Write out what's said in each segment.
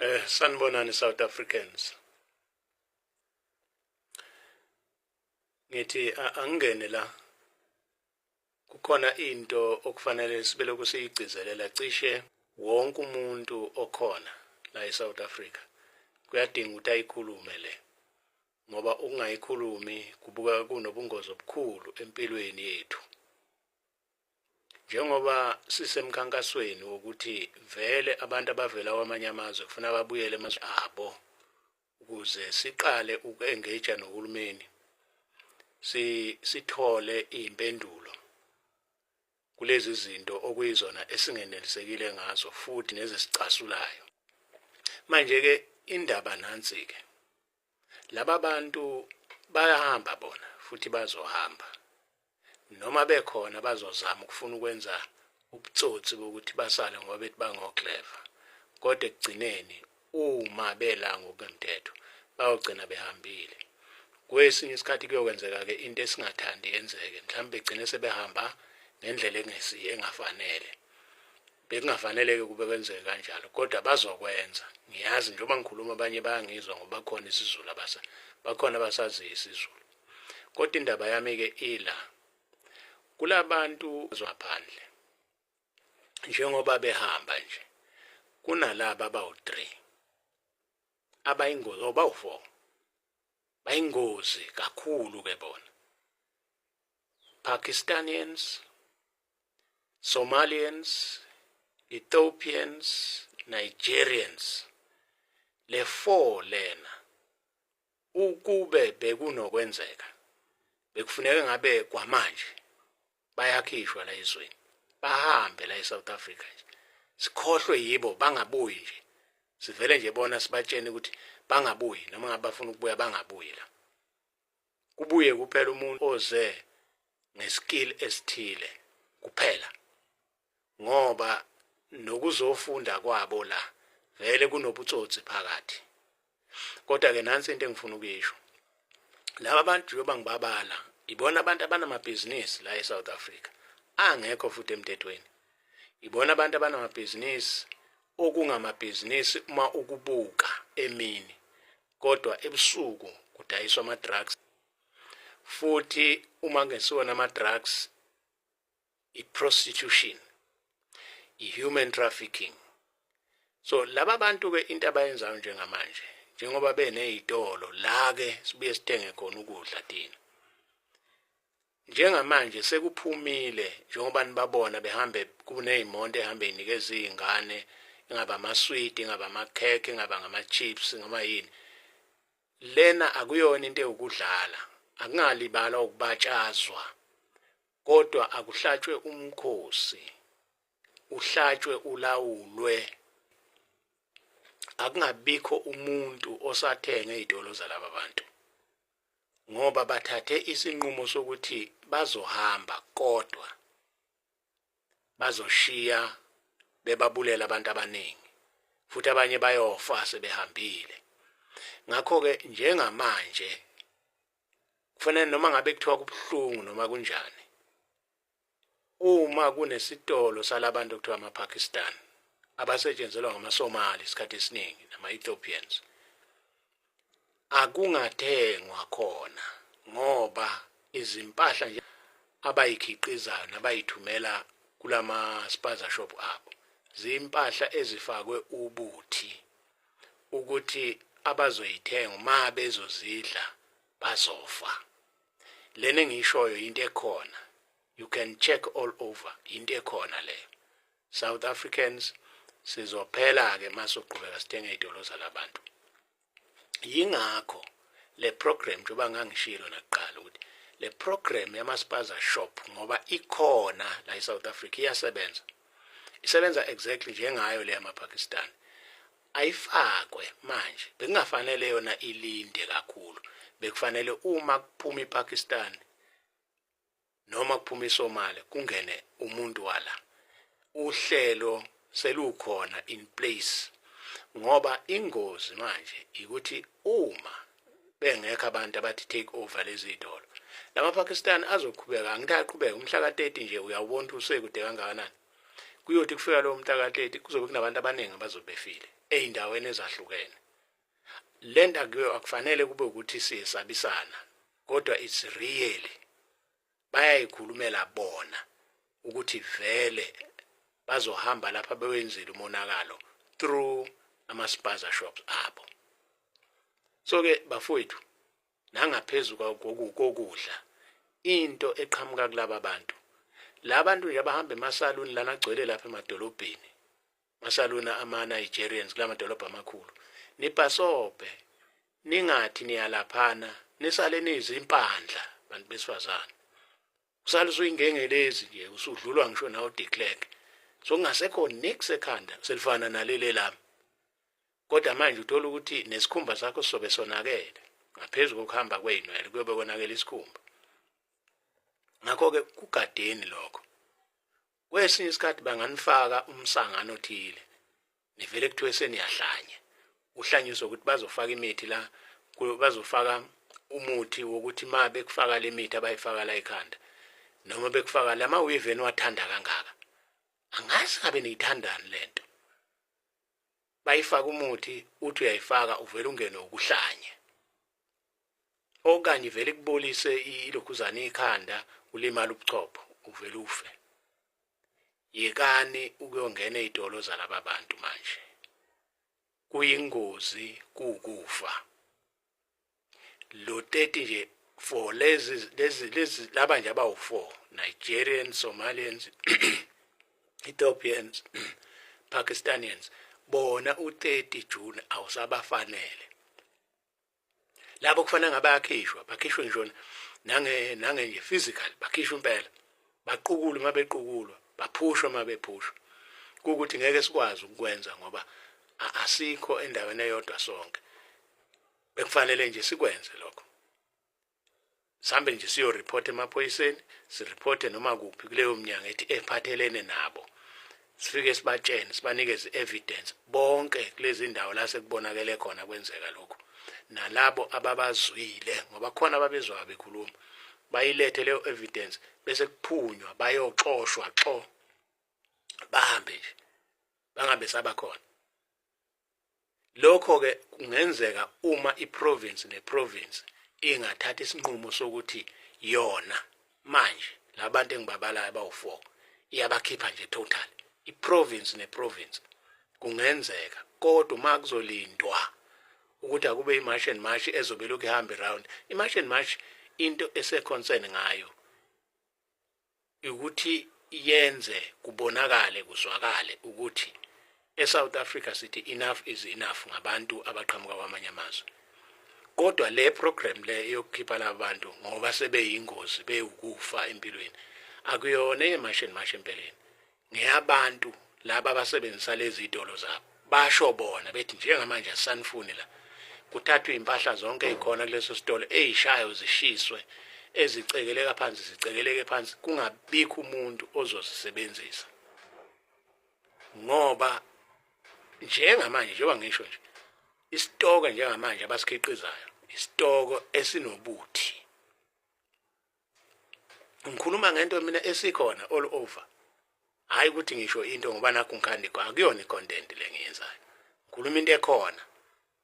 Eh sanibonani South Africans. Ngithi angene la kukhona into okufanele sibele kusiyigcizelela cishe wonke umuntu okhona la eSouth Africa kuyadinga ukuthi ayikhulume le ngoba ukungayikhulumi kubuka kunobungozi obukhulu empilweni yethu njengoba sisemkhankasweni wokuthi vele abantu abavela kwamanye amazwe kufuna babuyele emazwe abo ukuze siqale uku-engage nohulumeni si sithole impendulo kulezi zinto okuyizona esingenelisekile ngazo futhi nezesicasulayo manje ke indaba nansi ke laba bantu bayahamba bona futhi bazohamba noma bekhona bazozama ukufuna ukwenza ubutsotsi bokuthi basale ngoba bethi bangoclever kodwa ekugcineni uma bela ngokwemthetho bayogcina behambile kwesinye isikhathi kuyokwenzeka-ke into esingathandi yenzeke mhlawumbe begcine sebehamba ngendlela engesiyo engafanele bekungafanele-ke kube kwenzeke kanjalo kodwa bazokwenza ngiyazi njengoba ngikhuluma abanye bayangizwa ngoba khona isizulu abasa bakhona abasaziyo isizulu kodwa indaba yami-ke ila kulabantu zwaphandle njengoba behamba nje kunalaba abawu-3 abayingozi or bawu-4 bayingozi kakhulu ke bona Pakistanians Somalians, Ethiopians, Nigerians. Le four lena ukube bekunokwenzeka bekufuneka ngabe kwamanje bayakhishwa la ezweni bahambe la eSouth Africa nje sikhohlwe yibo bangabuyi nje sivele nje bona sibatshene ukuthi bangabuyi noma ngabe bafuna ukubuya bangabuyi la kubuye kuphela umuntu oze ngeskill esithile kuphela ngoba nokuzofunda kwabo la vele kunobutsotsi phakathi kodwa ke nansi into engifuna ukuyisho laba bantu njengoba ngibabala ibona abantu abanamabhizinisi la eSouth Africa angekho futhi emthethweni ibona abantu abanamabhizinisi okungamabhizinisi uma ukubuka emini kodwa ebusuku kudayiswa ama-drugs futhi uma kungesiwona ama-drugs i-prostitution i-human trafficking so laba bantu-ke into abayenzayo njengamanje njengoba beney'tolo la-ke sibuye sithenge khona ukudla thina Njengamanje sekuphumile njengoba nibabona behambe kuney'monto ehambe yinikeza iy'ngane ingaba amaswidi ingaba amakhekhe ingaba ngama-chips noma yini lena akuyona into ewukudlala akungalibala ukubatshazwa kodwa akuhlatshwe umkhosi uhlatshwe ulawulwe akungabikho umuntu osathenge izitolo zalaba bantu ngoba bathathe isinqumo sokuthi bazohamba kodwa bazoshiya bebabulela abantu abaningi futhi abanye bayofa sebehambile ngakho-ke njengamanje kufanele noma ngabe kuthiwa kubuhlungu noma kunjani uma kunesitolo salabantu okuthiwa ama-pakistan abasetshenzelwa ngamasomali isikhathi esiningi nama-ethiopians akungathengwa khona ngoba izimpahla nje abayikhiqizayo nabayithumela kulama spaza shop abo zimpahla ezifakwe ubuthi ukuthi abazoyithenga uma bezozidla bazofa lena engiyishoyo into ekhona you can check all over into ekhona leyo south africans sizophela-ke uma soqhubeka sithenga iy'tolo zalabantu yingakho le program njengoba ngangishilo nakuqala ukuthi le program yamaspaza shop ngoba ikhona la e-south africa iyasebenza isebenza exactly njengayo le yamapakistan ayifakwe manje bekungafanele yona ilinde kakhulu bekufanele uma kuphuma iPakistan noma kuphuma iSomalia kungene umuntu wala uhlelo selukhona in place ngoba ingozi manje ukuthi uma bengekho abantu abathi take over lezi dolo lama Pakistan azoqhubeka angitaqhubeka umhla ka 30 nje uyawubona ukuthi usekude kangakanani kuyothi kufika lowo mntakateti kuzobe kunabantu abaningi abazobe befile ey'ndaweni ezahlukene le nto akufanele kube ukuthi siyesabisana kodwa it's really bayayikhulumela bona ukuthi vele bazohamba lapha bewenzile umonakalo through ama-spaza shops abo so-ke bafowethu nangaphezu kokudla into eqhamuka kulaba bantu la bantu nje abahamba emasaluni lana agcwele lapha emadolobheni masaluni ama-nigerians kula madolobha amakhulu nibhasobhe ningathi niyalaphana nisale niyizimpandla bantu besifazane usale usuyingengelezi nje usudlulwa ngisho nawo declerk so kungasekho nix ekhanda selifana naleli lami kodwa manje uthola ukuthi nesikhumba sakho sizobe sonakele ngaphezu kokuhamba kweyinwele kuyobe konakele isikhumba ngakho-ke kugadeni lokho kwesinye isikhathi banganifaka umsangano othile nivele kuthiwe seniyahlanya uhlanyiswa ukuthi bazofaka imithi la bazofaka umuthi wokuthi ma bekufaka le mithi abayifaka la ekhanda noma bekufaka la ma-weave eniwathanda kangaka angazi ngabe niyithandani le nto bayifaka umuthi uthi uyayifaka uvela ungene ukuhlanye okanye vele kubolise ilokhuzane ikhanda ulimala ubuchopho uvele ufe yekani ukuyongena ezitolo zalaba bantu manje kuyingozi kukufa lo 30 nje for lezi lezi lezi laba nje abawu4 Nigerians Somalians Ethiopians Pakistanians bona u30 June awusabafanele labo kufanele ngabakhishwa bakhishwe ngisho nange nange nje physical bakhishwa impela baqukulwe uma bequkulwa baphushwa uma bephushwa ukuthi ngeke sikwazi ukukwenza ngoba asikho endaweni eyodwa sonke bekufanele nje sikwenze lokho sambe nje siyo report emaphoyiseni si report noma kuphi kuleyo mnyango ethi ephathelene nabo sifike sibatshene sibanikeze evidence bonke kulezi ndawo la sekubonakele khona kwenzeka lokho nalabo ababazwile ngoba khona ababezwa bekhuluma bayilethe leyo evidence bese kuphunywa bayoxoshwa xo bahambe nje bangabe sabakhona lokho ke kungenzeka uma iprovince neprovince ingathatha isinqumo sokuthi yona manje labantu engibabalayo abawu4 iyabakhipha nje total iprovince neprovince kungenzeka kodwa uma kuzolindwa ukuthi akube imarch and march ezobe lokhu ihambe round imarch and march into eseconcern ngayo ukuthi yenze kubonakale kuzwakale ukuthi eSouth Africa sithi enough is enough ngabantu abaqhamuka kwamanye amazwe kodwa le program le yokukhipha labantu ngoba sebeyingozi bewukufa empilweni akuyona eyemashe nemashe empeleni ngeyabantu laba abasebenzisa lezi idolo zabo basho bona bethi njengamanje asisanifuni la kuthathwe impahla zonke ezikhona kuleso sitolo ezishayo zishiswe ezicekeleka phansi zicekeleke phansi kungabikho umuntu ozozisebenzisa ngoba njengamanje njengoba ngisho nje isitoko njengamanje abasikhiqizayo isitoko esinobuthi ngikhuluma ngento mina esikhona all over hayi ukuthi ngisho into ngoba nakho ngikhandi akuyona i-content le ngiyenzayo ngikhuluma into ekhona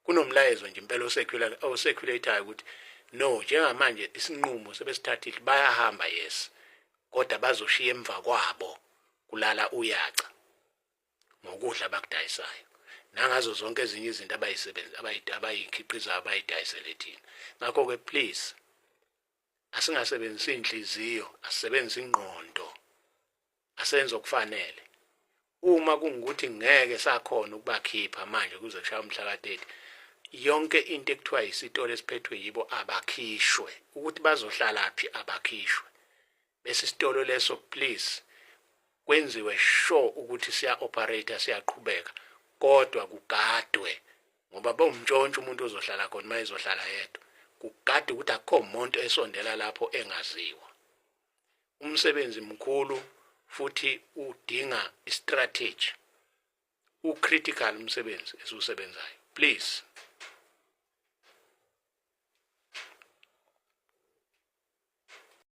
kunomlayezo nje impela oseculatayo ukuthi no njengamanje isinqumo sebesithathile bayahamba yes kodwa bazoshiya emva kwabo kulala uyaca ngokudla abakudayisayo nangazo zonke ezinye izinto abayisebenzi abayikhiqizayo abayidayisele thina ngakho-ke please asingasebenzisi inhliziyo asisebenzisa ingqondo asenze okufanele uma kungukuthi ngeke sakhona ukubakhipha manje kuze kushaya umhla ka-30 yonke into ekuthiwa yisitolo esiphethwe yibo abakhishwe ukuthi bazohlalaphi abakhishwe bese isitolo leso please kwenziwe sure ukuthi siya operator siyaqhubeka kodwa kugadwe ngoba bawumntshontsha umuntu ozohlala khona uma ezohlala yedwa kugade ukuthi akukho muntu esondela lapho engaziwa umsebenzi mkhulu futhi udinga istrategy ucritical umsebenzi esiwusebenzayo please